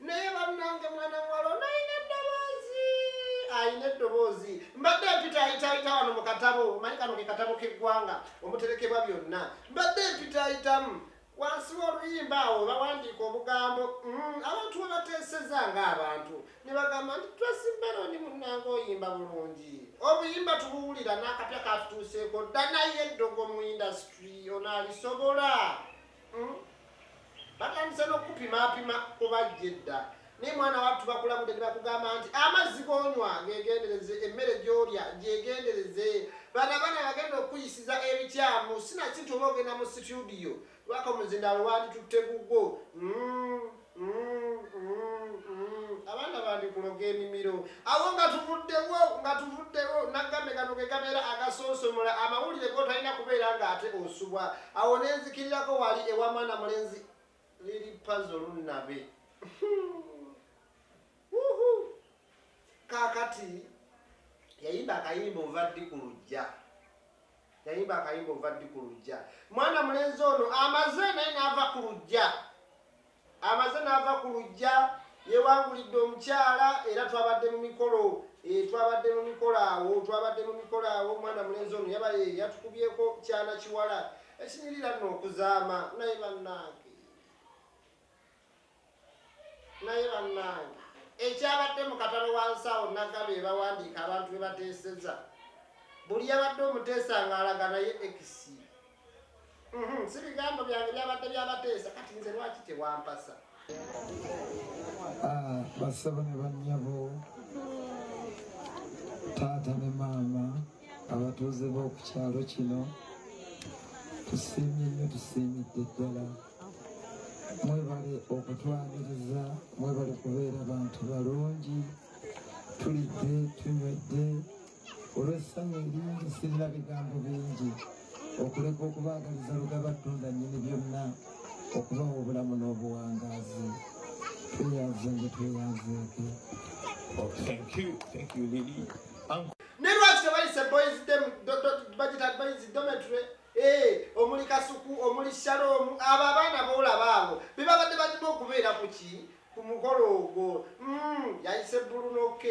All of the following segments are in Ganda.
Naye bannange mwana muwala ono alina eddoboozi, alina eddoboozi. Mbadde mpita ayitaayita wano mu katabo, manyi kano ke katabo k'eggwanga omuterekebwa byonna. Mbadde mpitaayitamu wansi w'oluyimba awo bawandiika obugambo mm, abantu we bateeseza ng'abantu ne bagamba nti twasiberondi munnanga oyimba bulungi obuyimba tubuwulira n'akapya katutuuseeko dda naye eddogo mu indasitry onaalisobola mm? batandise n'okukupimaapima kubajja edda naye mwana wattu bakulabude ne bakugamba nti amazzi gonywa gegendereze emmere gyolya gyegendereze bana bana bagenda okukuyisiza ebikyamu sinakintu oba ogenda mu situdiyo lwaka omuzindaalo wanditutte gugwo mm, mm, mm, abaana bandikuloga emimiro awo nga tuvuddewo nga tuvuddewo nagambe gano ge gabeera agasonsomola amawulire gotalina kubeera ng'ate osubwa Awo ne nzikirirako wali ewa mwana mulenzi liri pazo lunnabe. Wuhu! Kaakati yayimba akayimba ova ddi ku lujja. Yayimba akayimba ova ddi ku lujja. Mwana mulenzi ono amaze naye n'ava ku lujja. Amaze n'ava ku luggya, yeewangulidde omukyala era twabadde mu mikolo eh, twabadde mu mikolo awo, twabadde mu mikolo awo, omwana mulenzi ono yaba eh, yatukubyeko kyana kiwala ekinyirira nno okuzaama naye bannange naye bannange ekyabadde mu katalo wansi awo naga be bawandiika abantu be bateeseza buli yabadde omuteesa ng'alaga naye ekisi Mhm, si bigambo byange byabadde byabateesa kati nze lwaki tewampasa ah, basaba ne bannyabo taata ne maama abatuuze b'oku kyalo kino tusiimye nnyo tusiimidde ddala mwebale okutwaniriza mwebale kubeera bantu balungi tulidde tunywedde olw'essanyu eringi sirina bigambo bingi okuleka okubaagaliza lugaba ttunda nnyini byonna okubawa obulamu n'obuwangaazi tweyanze nge tweyanzeeke oh, ne lwaki tebayise boys dem budget advise dometry eh, omuli kasuku omuli shalom abo abaana boolaba abo bebabadde balina okubeera ku ki ku mukolo ogwo hmm, yayise bulunoke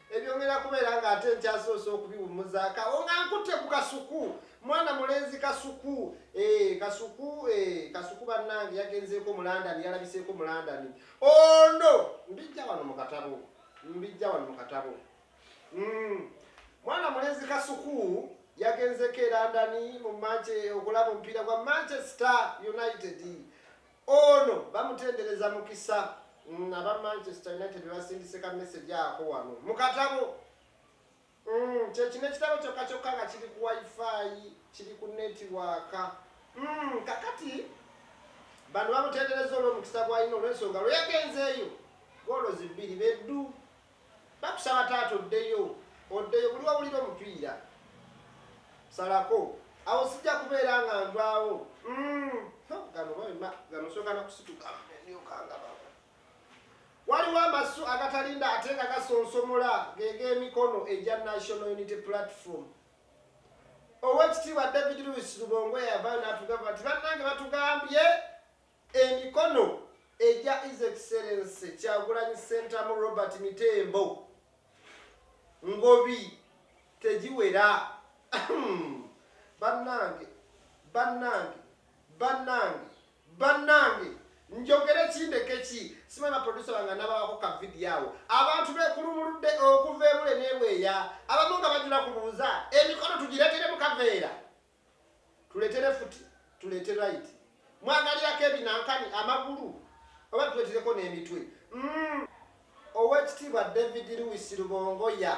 Ebyo ngenda kubeera nga ate nkyasoose okubiwummuzaako awo nga nkutte ku kasuku mwana mulenzi kasuku eh, kasuku eh, kasuku bannange yagenzeeko mu landani yalabiseeko mu landani ono mbijja wano mu katabo mbijja wano mu katabo mm. mwana mulenzi kasuku yagenzeeko e landani mu manche okulaba omupiira gwa manchester united Ono bamutendereza mukisa nga ba Manchester United bebasindise ka message ako wano mu katabo. Mm, kyekino ekitabo kyokka kyokka nga kiri ku wifi kiri ku netiwaaka mm, kakati bano bamutendereza olwomukisa gwalina olwensonga lweyagenzeeyo goolo zibbiri beddu Bakusaba taata oddeyo oddeyo buli wawulira omupiira salako awo sijja kubeera nga nvaawo mm, gano bama gano soka nakusituka ndyokangababa waliwo amasu agatalinda ate nga gasonsomola geg'emikono egya national unity platform owekitiibwa david lewis lubongo eyavayo natugamba nti bannange batugambye Emikono egya His Excellency Kyagulanyi Ssentamu Robert Mitembo Ngobi tegiwera. Bannange, bannange, bannange, bannange njogere ki ndeke ki? Simanyi baproducer bange anabawako ka vidiyo awo. Abantu bekulumuludde okuva ebule n'ebweya, abamu nga bajula kubuuza emikono tugireetere mu kaveera. tuletere futi tulete right mwagalirako ebinankani amagulu oba tuletereko n'emitwe mm. owekitiibwa david lewis lubongoya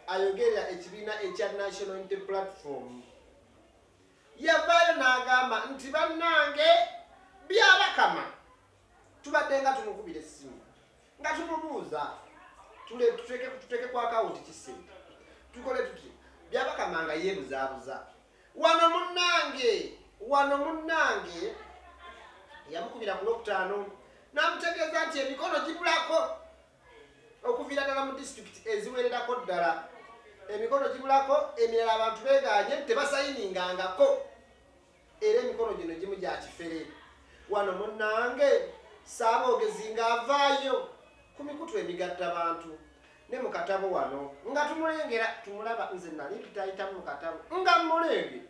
ayogerera ekibiina ekya national unity platform yavaayo n'agamba nti bannange byabakama tubadde nga tumukubira essimu nga tumubuuza tuteeke ku akawunti kisente tukole tuti byabakama nga yeebuzaabuza wano munnange wano munnange yamukubira ku lwokutaano n'amutegeeza nti emikono gibulako okuviira ddala mu disitulikiti eziwererako ddala emikono gibulako emirala abantu begaanye nti tebasayiningangako era emikono gino gimu gya kifere wano munnange saaboogezi ng'avaayo ku mikutu emigatta bantu ne mu katabo wano nga tumulengera tumulaba nze nali ntutayitamu mu katabo nga mmulenge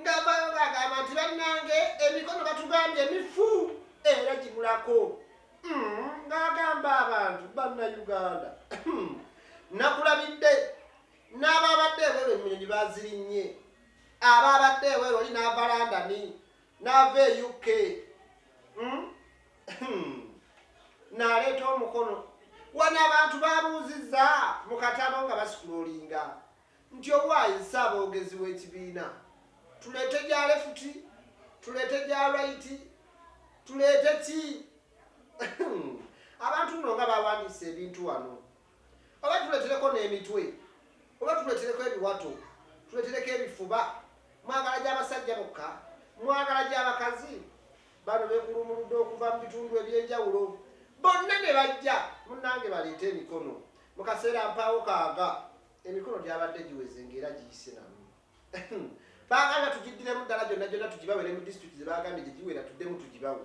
ng'avaayo ng'agamba nti bannange emikono batugambye emifu era gibulako hmm, ng'agamba abantu banna uganda hmm, nakulabidde n'ababadde ebero emmunyonyi bazirinnye Aba abadde ewe loli n'ava London n'ava e UK hmm? hmm. n'aleeta omukono wano abantu babuuzizza mu katabo nga basikuloolinga nti owaayi nsaaboogezi w'ekibiina tuleete gya lefuti tuleete gya lwaiti tuleete ki hmm. abantu no nga bawandiisa ebintu wano Oba tuletereko n'emitwe, oba tuletereko ebiwato, tuletereko ebifuba. Mwagala gya basajja bokka? Mwagala gya bakazi? Bano bekulumuludde okuva mu bitundu eby'enjawulo bonna ne bajja. Munnange baleete emikono. Mu kaseera mpaawo kaaga emikono gyabadde giweze ng'era giyise namu. Baagala tugiddiremu ddala gyonna gyonna tugibawe ne mu disitulikiti ze baagambye gye giwera tuddemu tugibawe.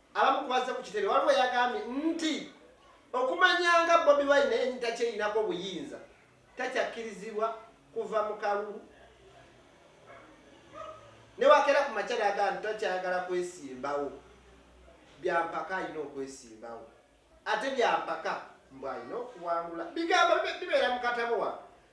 Abamu kubazze ku kitebe waliwo yagambye nti okumanyanga Bobi Wine naye ntakyelinako obuyinza takyakkirizibwa kuva mu kalulu newakeera ku makyala aga nti takyayagala kwesimbawo byampaka alina okwesimbawo. Ate byampaka mbu alina okuwangula bigambo bibeera mu katabo wa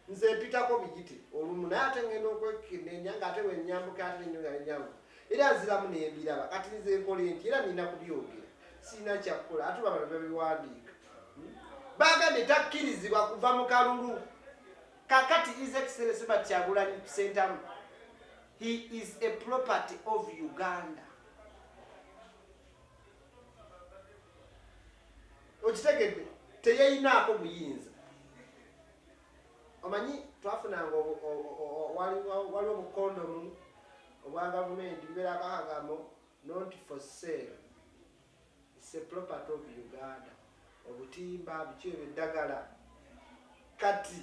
nze mpitako bigiti olumu naye ate ngenda okwekenenya nga ate wenyambuka ate nenyo nga nenyangu era nziramu nembiraba kati nze nkola enti era nina kubyogera sirina kyakukola ate babano babiwandiika hmm? bagambye takkirizibwa kuva mu kalulu kakati is excellence ba kyagulanyi sentamu he is a property of uganda okitegedde teyeyinaako buyinza omanyi twafunanga waliwo obukondomu obwa gavumenti bubeera kakagamo not for sale its a property of uganda obutimba biki ebyo eddagala kati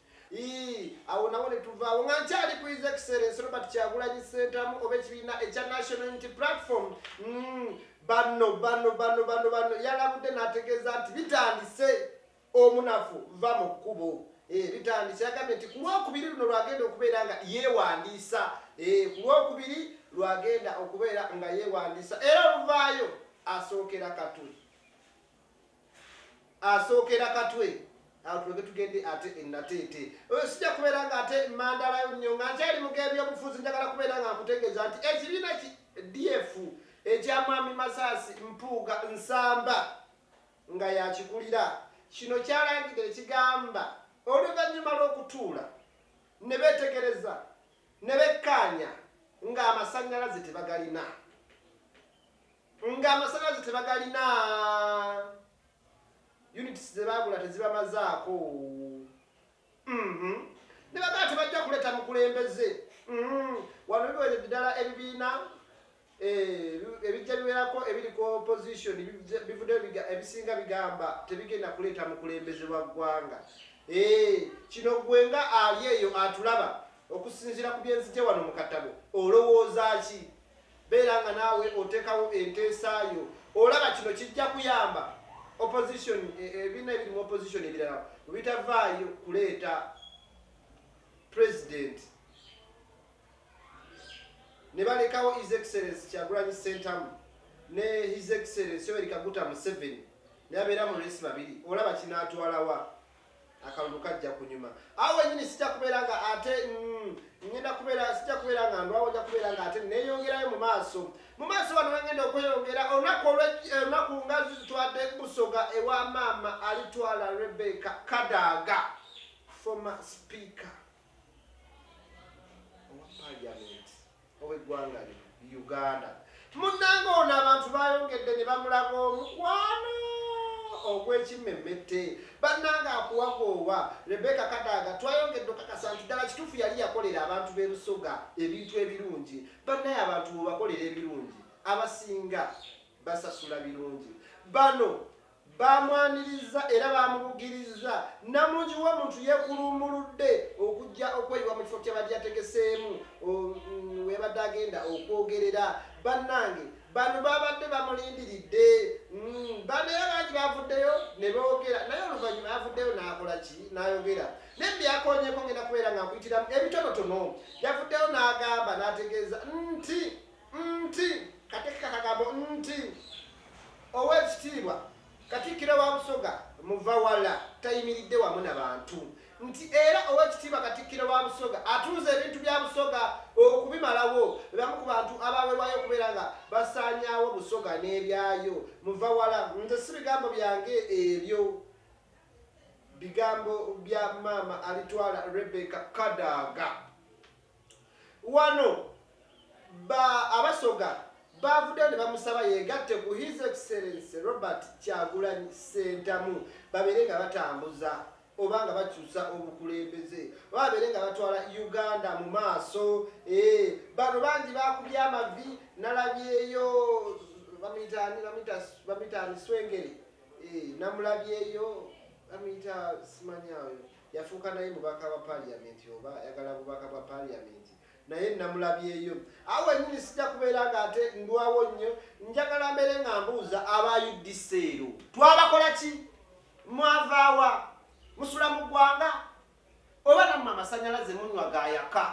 awo nawo ne tuvaawo nga nkyali ku his excellence robert kyagulanyi sentamu oba ekibiina ekya national unity platform mm, bano bano bano bano bano yalabudde n'ategeeza nti bitandise omunafu va mu kkubo eh, bitandise yagambye nti ku lwokubiri luno lwagenda okubeera nga yeewandiisa eh, ku lwokubiri lwagenda okubeera nga yeewandiisa era oluvaayo asookera katuli asookera katwe awo tulage tugende ate enateete oyo sijja kubeera nga ate mandalayo nnyo nga nkyali mu gebyobufuzi njagala kubeera nga nkutegeeza nti ekibiina ki df ekya mwami masaasi mpuuga nsamba nga yakikulira kino kyalangidde ekigamba oluvannyuma lw'okutuula ne beetegereza ne bekkaanya ng'amasannyalaze tebagalina Nga amasanyalaze tebagalina, units ze baagula tezibamazaako, mm-hmm. ne bagala tebajja kuleeta mukulembeze. Mm-hmm. Wano biweredde ddala ebibiina Eh, ebijja biwerako ebiri ku opposition bivudde ebisinga bigamba tebigenda kuleeta mukulembeze wa ggwanga eh, kino gwe nga ali eyo atulaba okusinziira ku byenzije wano mu katabo olowooza ki Beera nga naawe oteekawo enteesa yo. Olaba kino kijja kuyamba opposition, e, ebibiina ebiri mu opposition ebirala bwebitavaayo kuleeta president ne balekawo his excellence Kyagulanyi Ssentamu ne his excellence Yoweri Kaguta Museveni ne babeera mu race babiri, olaba kinaatwalawa? akalulu kajja kunyuma awo wenyini sijja kubeera nga ate mm, ngenda kubeera sijja kubeera nga ndwawo nja kubeera nga ate neyongerayo mu maaso mu maaso wano wengenda okweyongera olunaku olwolunaku eh, nga zitwadde busoga ewa maama alitwala rebeka kadaaga former speaker owa parliament ow'eggwanga lino Uganda. Munnange ono abantu baayongedde ne bamulaga omukwano ogw'ekimmemmette. Bannange akuwagoowa Rebecca Kadaga twayongedde okakasa nti ddala kituufu yali yakolera abantu b'e Busoga ebintu ebirungi. Bannaye abantu bw'obakolera ebirungi abasinga basasula birungi. Bano Baamwanirizza era baamubugirizza. Namungi w'omuntu yeekuluumuludde okujja okweyiwa mu kifo ky'abadde yategeseemu we yabadde agenda okwogerera. Bannange bano baabadde bamulindiridde. Bano era bangi baavuddeyo ne boogera naye oluvannyuma yavuddeyo n'akola ki? N'ayogera. Naye bye yakoonyeeko ngenda kubeera nga nkuyitiramu ebitonotono. Yavuddeyo n'agamba n'ategeeza nti. Nti, Katikka kagambo nti. Ow'ekitiibwa Katikkiro wa Busoga Muvawala tayimiridde wamu na bantu. Nti era Ow'ekitiibwa Katikkiro wa Busoga atunze ebintu bya Busoga okubimalawo. Be bamu ku bantu abaawerwayo okubeera nga basaanyaawo Busoga n'ebyayo. Muvawala, Nze si bigambo byange ebyo. Bigambo bya Maama Alitwala Rebecca Kadaga. Wano ba Abasoga baavuddeyo ne bamusaba yeegatte ku His Excellency Robert Kyagulanyi Ssentamu babeere nga batambuza oba nga bakyusa obukulembeze oba babeere nga batwala Uganda mu maaso. Eeh bano bangi baakubye amavi nalabyeyo bamuyita ani bamuyita bamuyita ani Swengere eeh namulabyeyo bamuyita simanya oyo. Yafuuka naye mubaka wa parliament oba ayagala bubaka bwa parliament naye namulabyeyo awo wenyini sijja kubeera nga ate ndwawo nnyo njagala mbere nga mbuuza aba udc ero twabakola ki mwavaawa musula mu ggwanga oba namwe amasanyalaze munywa gayaka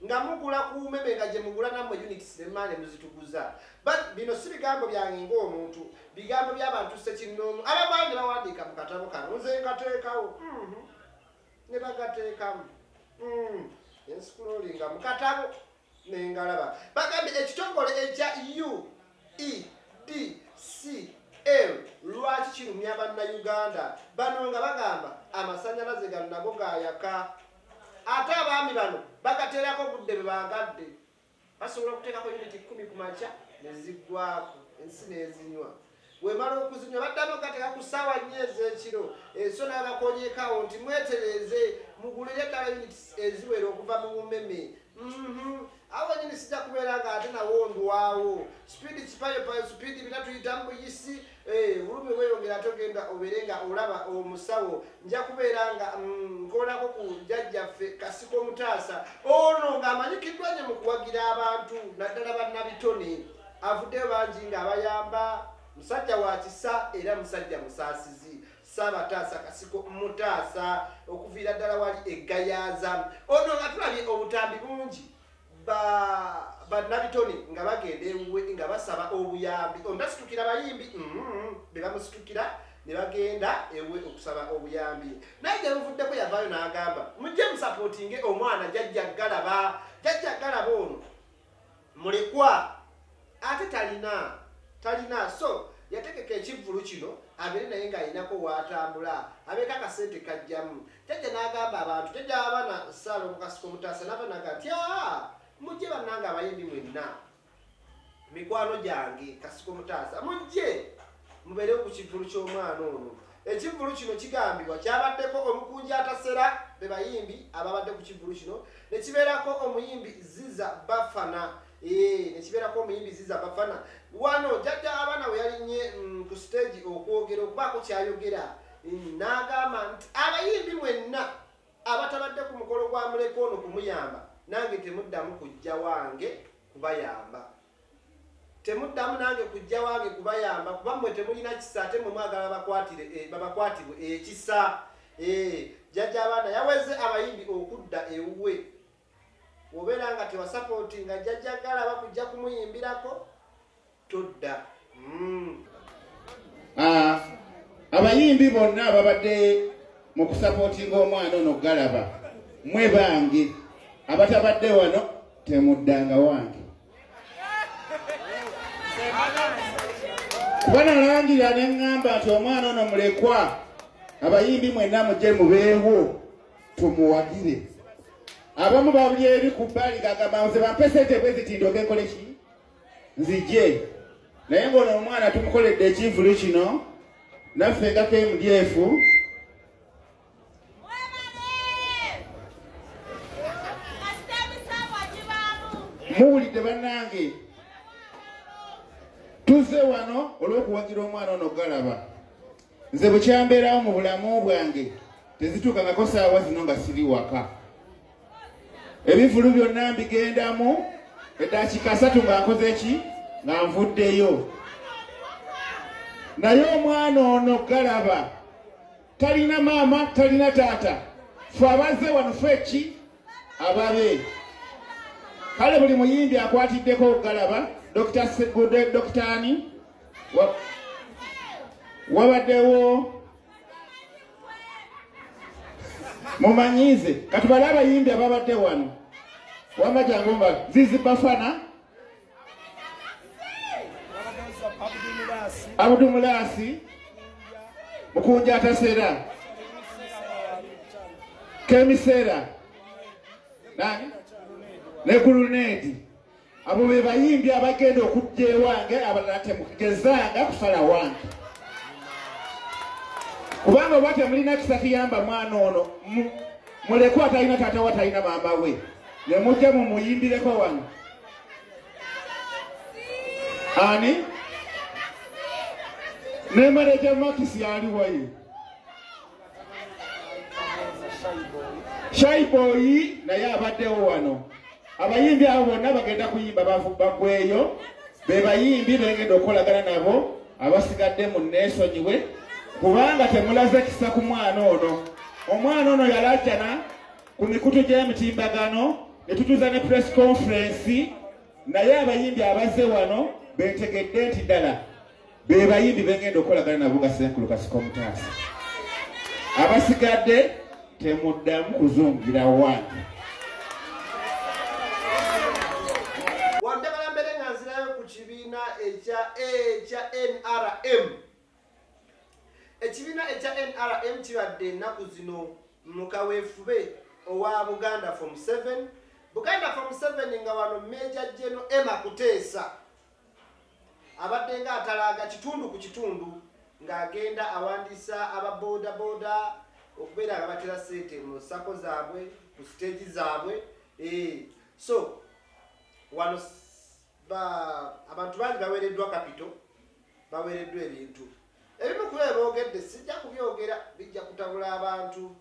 nga mugula ku umeme nga gye mugula nammwe units ne mmaale muzituguza but bino si bigambo byange ng'omuntu bigambo by'abantu ssekinnoomu ababaani bawandiika mu katabo kano nze nkateekawo mm-hmm. ne bagateekamu mm. ensikulolinga mu katabo nengalaba bagambye ekitongole ekya u e d c l lwaki kirumya bannayuganda bano nga bagamba amasanyalaze gano nago gayaka Ate abaami bano bagateerako obudde bwe baagadde. Basobola okuteekako yuniti kkumi ku makya ne ziggwaako ensi n'ezinywa. Bw'emala okuzinywa baddamu okugateeka ku ssaawa nnya ez'ekiro. Enso n'abakonyeeko awo nti mwetereeze mugulire ddala yuniti eziwera okuva mu bumeme. Uhmm awo wennyini sijja kubeera ng'ate nawo ndwawo. Sipiidi kipayopayo, sipiidi bina tuyita mu buyisi. Eeh bulumi weyongera ate ogenda obeere nga olaba omusawo nja kubeera nga mm, nkolako ku jajjaffe kasiko mutaasa ono ng'amanyikiddwa nye mu kuwagira abantu naddala bannabitone avuddeyo bangi ng'abayamba musajja wa kisa era musajja musaasizi saabataasa kasiko mutaasa okuviira ddala wali eggayaaza ono nga tulabye obutambi bungi ba bannabitone nga bagenda ewuwe nga basaba obuyambi ontasitukira bayimbi mm-hmm, be bamusitukira ne bagenda ewuwe okusaba obuyambi naye gye buvuddeko yavaayo n'agamba mujje musapootinge omwana jajja galaba jajja galaba ono mulekwa ate talina talina so yategeka ekivvulu kino abeere naye ng'alinako waatambula abeeko akasente kajjamu Jajja n'agamba abantu, jajja abaana Ssaala omukasika omutaasa n'ava n'agamba nti, aa mujje bannange abayimbi mwenna mikwano gyange kasiko mutaasa mujje mubeere ku kivvulu ky'omwana ono ekivvulu kino kigambibwa kyabaddeko omukunja atasera be bayimbi ababadde ku kivvulu kino ne kibeerako omuyimbi ziza bafana ee ne kibeerako omuyimbi ziza bafana wano jajja abaana we yalinnye mm, ku siteegi okwogera okubaako kyayogera N'agamba nti, Abayimbi mwenna abatabadde ku mukolo gwa Mulekwa ono kumuyamba, nange temuddamu kujja wange kubayamba. Temuddamu nange kujja wange kubayamba kuba mmwe temulina kisa ate mmwe mwagala babakwatire e, babakwatibwe ekisa. Ee, jjajja abaana yaweze abayimbi okudda ewuwe Bw'obeera nga tewasapootinga Jjajja Galaba kujja kumuyimbirako, todda. Mm. Ah, abayimbi bonna ababadde mu kusapootinga omwana ono Galaba, mwe bange abatabadde wano temuddanga wange. Kuba nalangira ne ŋŋamba nti omwana ono mulekwa, abayimbi mwenna mujje mubeewo. tumuwagire abamu babuli eri ku bbali gagamba nze bampe sente bwe ziti ndoke nkole ki nzije naye ng'ono omwana tumukoledde ekivulu kino naffe nga kmdf muwulidde bannange tuzze wano olw'okuwagira omwana ono galaba nze bukyambeerawo mu bulamu bwange tezituukangako saawa zino nga siri waka ebivulu byonna mbigendamu eddakiika asatu nga nkoze ki nga nvuddeyo naye omwana ono galaba talina maama talina taata fe abazze wano fe ki ababe kale buli muyimbi akwatiddeko okugalaba dokita segudde dokitaani wabadewo mumanyize kati bali abayimbi ababadde wano wama jangu mba zizi bafana abudu mulasi mukunja atasera kemisera nani ne gulunedi Abo be bayimbi abagenda okujja ewange abalala temugezanga kusala wange kubanga oba temulina kisa kiyamba mwana ono muleku atalina taata we atalina maama we ne mujja mumuyimbireko wano ani ne maneja makisi yaliwaye shaiboyi naye abaddewo wano abayimbi abo bonna bagenda kuyimba bagweeyo bebayimbi bengenda okukolagana nabo abasigadde mu neesonyiwe kubanga temulaze kisa ku mwana ono omwana ono yalajana ku mikutu gy'emitimbagano ne tutuza ne press conference naye abayimbi abaze wano betegedde nti ddala be bayimbi bengenda okukolagana nabo nga senkulu kasika omutaasa abasigadde temuddamu kuzungira wange ekibiina ekya ekya nrm ekibiina ekya nrm kibadde ennaku zino mu kaweefube owa buganda fom 7 buganda fom 7 nga wano meja jeno ema kuteesa abaddenga atalaaga kitundu ku kitundu ng'agenda awandiisa aba boodabooda okubeera nga batera ssente mu sako zaabwe ku siteegi zaabwe eh, so wano abantu bangi baweereddwa kapito baweereddwa ebintu Ebimu ku bye boogedde sijja kubyogera bijja kutabula abantu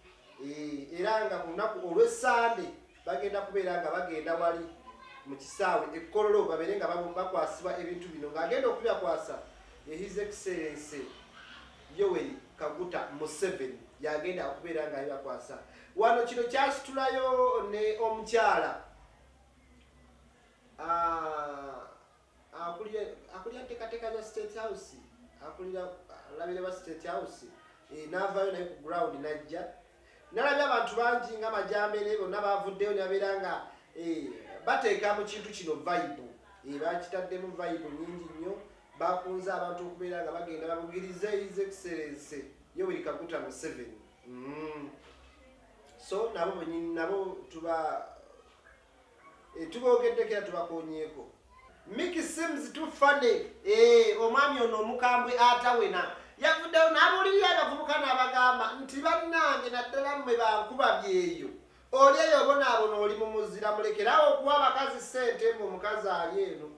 eh, era nga ku lunaku olw'essande bagenda kubeera nga bagenda wali mu kisaawe e Kololo babeere nga babu- bakwasibwa ebintu bino ng'agenda okubibakwasa ye His Excellency Yoweri Kaguta Museveni y'agenda okubeera ng'abibakwasa. Wano kino kyasitulayo ne omukyala ah, akulira ntekateeka za state house akulira alabira ba state house eh, n'avaayo naye ku ground najja nalabye abantu bangi nga majambere bonna bavuddeyo nabeera nga eh, bateeka mu kintu kino vibe eh, bakitaddemu vibe nyingi nnyo bakunze abantu okubeera nga bagenda babugiriza his excellence yoweri kaguta museven mm. so nabo nabo tuba Eh, tuboogeddeko era tubakonyeeko miki seems to funny eh, omwami ono omukambwe atawena yavuddeyo n'abuulirira abavubuka n'abagamba nti bannange naddala mmwe bankuba byeyo oli eyo obonaabona oli mu muzira mulekeraawo okuwa abakazi ssente mbu omukazi ali eno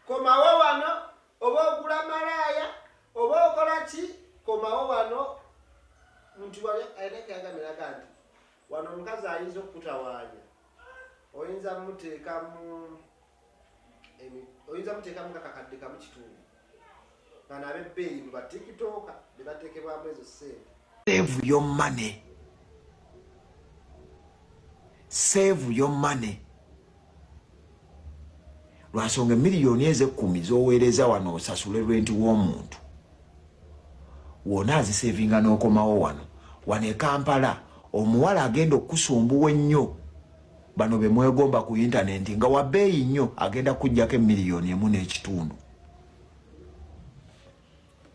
komawo wano oba ogula malaaya oba okola ki komawo wano nti wali ayina kyagamiraga nti Wano omukazi ayinza okukutawaanya, oyinza muteekamu oyinza muteekamu nga kakadde kamu kitundu bano abebbeeyi mu batikitooka be bateekebwamu ezo ssente. Save your money, save your money. lwansonga emiliyoni ezo ekkumi z'oweereza wano osasule lwenti w'omuntu wona azisevinga n'okomawo wano wano e kampala omuwala agenda okukusumbuwa ennyo bano be mwegomba ku yintanenti nga wabeeyi nnyo agenda kujjako emiliyoni emu n'ekitundu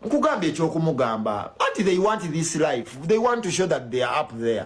nkugamba ekyokumugamba anti they want this life they want to show that they are up there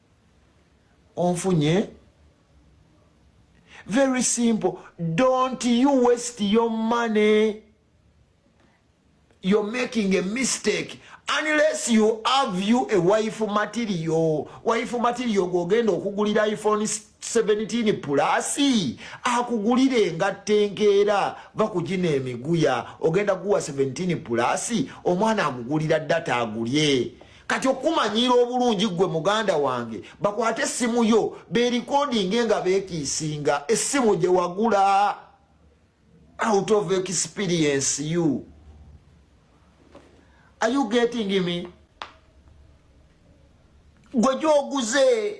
onfunye very simple don't you waste your money you're making a mistake unless you have you a wife material wife material gwogenda okugulira iphone 17 plus akugulira engatta enkeera bakugina emiguya ogenda guwa 17 plus omwana agugulira data agulye kati okukumanyiira obulungi ggwe muganda wange bakwate essimu yo berikodinge nga bekiisinga essimu gye wagula out of experience you are you getting me gwe gyoguze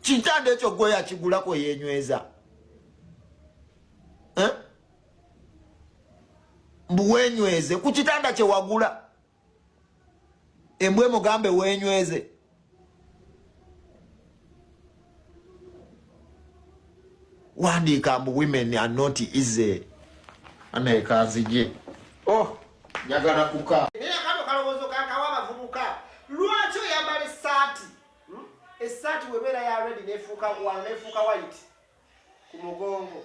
kitanda ekyo gwe yakigulako yenyweza eh? mbu wenyweze ku kitanda kyewagula embwe mugambe wenyweze wandiika mbu women are not easy anaye kanzije oh njagala kuka naye akano kalowoozo kakawa abavubuka lwaki oyambala essaati hmm? essaati webeera ya redi nefuuka wano nefuuka white ku mugongo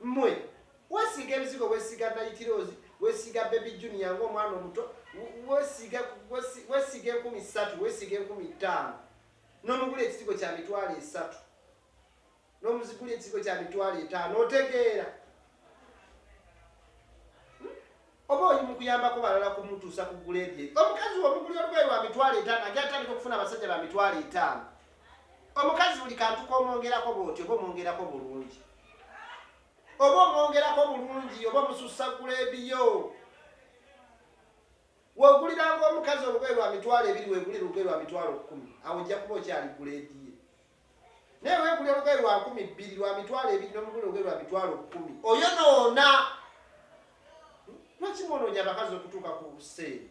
Mmwe weesiiga ebizigo, weesiiga nayitiroozi, weesiiga bebi juniya ng'omwana omuto, weesiiga enkumi ssatu, weesiiga enkumi ttaano, n'omugula ekizigo kya mitwalo esatu, n'omuzigula ekizigo kya mitwalo etaano, otegeera? Oba oli mu kuyambako balala kumutuusa ku guleedi eyo. Omukazi w'omugulira olugoye lwa mitwalo etaano agenda atandika okufuna abasajja ba mitwalo etaano. Omukazi buli kantu k'omwongerako bw'otyo oba omwongerako bulungi. Oba omwongerako bulungi oba omusussa guleedi yo. W'oguliranga omukazi olugoye lwa mitwalo ebiri weegulire olugoye lwa mitwalo kkumi, awo ojja kuba okyali guleedi ye. naye wegula olugoye lwa nkumi bbiri lwa mitwalo ebiri nomugula olugoye lwa mitwalo kkumi oyo noona lwaki mwononya abakazi okutuuka ku seeri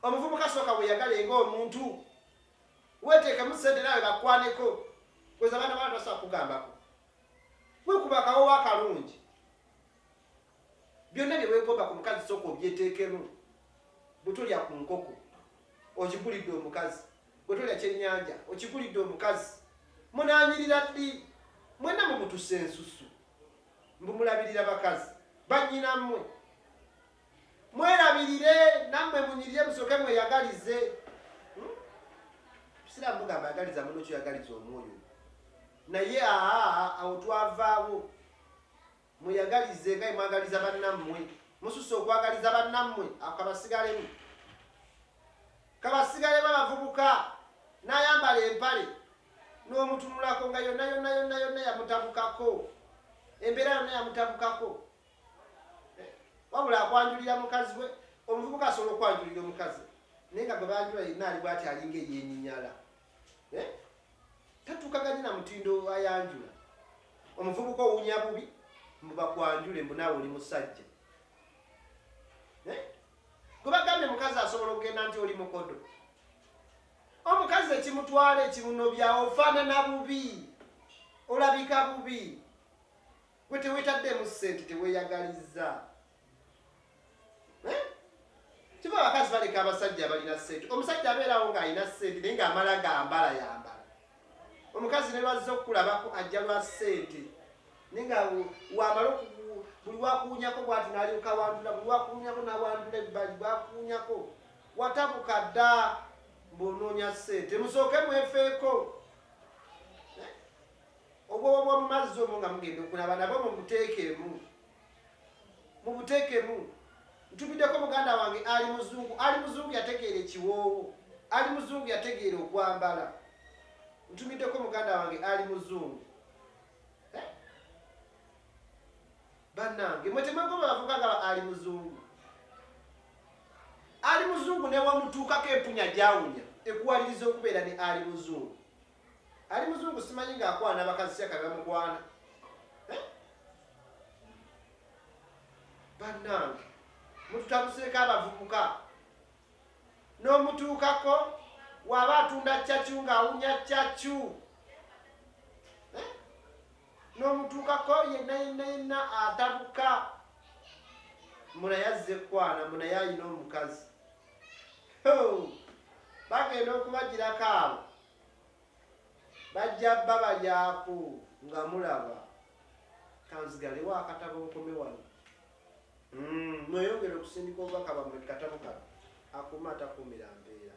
omuvubuka sooka weyagale nga omuntu weteekemu sente nawe bakwaneko kweza abaana bana tasobola kugambako wekuba akawowo akalungi Byonna bye weegomba ku mukazi sooka obyeteekemu. Bwe tolya ku nkoko, ogigulidde omukazi. Bwe tolya kyennyanja, okigulidde omukazi. Munaanyirira ddi? Mwenna mumutuse ensusu. Mbu mulabirira bakazi bannyinammwe. Mwerabirire nammwe munyirire musooke mweyagalize. Hmm? Siraamu mugamba yagaliza muno kyoyagaliza omwoyo. Naye aa awo twavaawo. Mweyagalize nga bwe mwagaliza bannammwe. Mususse okwagaliza bannammwe. Ako kabasigalemu. Kabasigalemu abavubuka n'ayambala empale n'omutunulako nga yonna yonna yonna yonna yamutabukako. Embeera yonna yamutabukako. Eh, wabula akwanjulira mukazi we. Omuvubuka asobola okwanjulira omukazi naye nga gwe banjula yenna ali bwati alinga eyenyinyala. eh? tatukaganye na mutindo ayanjula omuvubuka owunya bubi mbubakwanjule mbunawe oli musajja eh? gwebagambye mukazi asobola okugenda nti oli mukodo omukazi ekimutwala ekimunobya ofaanana bubi olabika bubi gwe tewetaddeemu ssente teweyagaliza kiba abakazi baleka abasajja abalina sente omusajja abeerawo ng'alina sente naye ng'amala gambala yambala omukazi ne lwazza okukulabako ajja lwa sente naye nga wamala buli wakuwunyako bwati nalyoka wandula buli wakuwunyako nawandula ebbali bwakuwunyako watabuka dda mbuonoonya sente musooke mwefeeko obwoba bwomumazzi omu nga mugenda okulaba nabo mumuteekeemu mubutekemu ntubideko muganda wange ali muzungu ali muzungu yategeera ekiwoowo ali muzungu yategeera okwambala ntumideko muganda wange ali muzungu eh? banange mwetemwegomaavugagaba ali muzungu ali muzungu newamutuukako empunya gyawunya ekuwaliriza okubeera ne ali muzungu Ali muzungu simanyi nga akwana abakazi syaka bamukwana eh? banange mututabuseeko abavubuka n'omutuukako waba atunda cacu ng'awunya cacu eh? n'omutuukako yenna yenna yenna atabuka munaye azze kukwana munaye alina omukazi bagenda okubagirako abo bajja bba balyaku nga mulaba kanzigalewo akatabo nkome wano hmm, mweyongere okusindika obubaka bamwe katabo kano akuuma atakuumira mbeera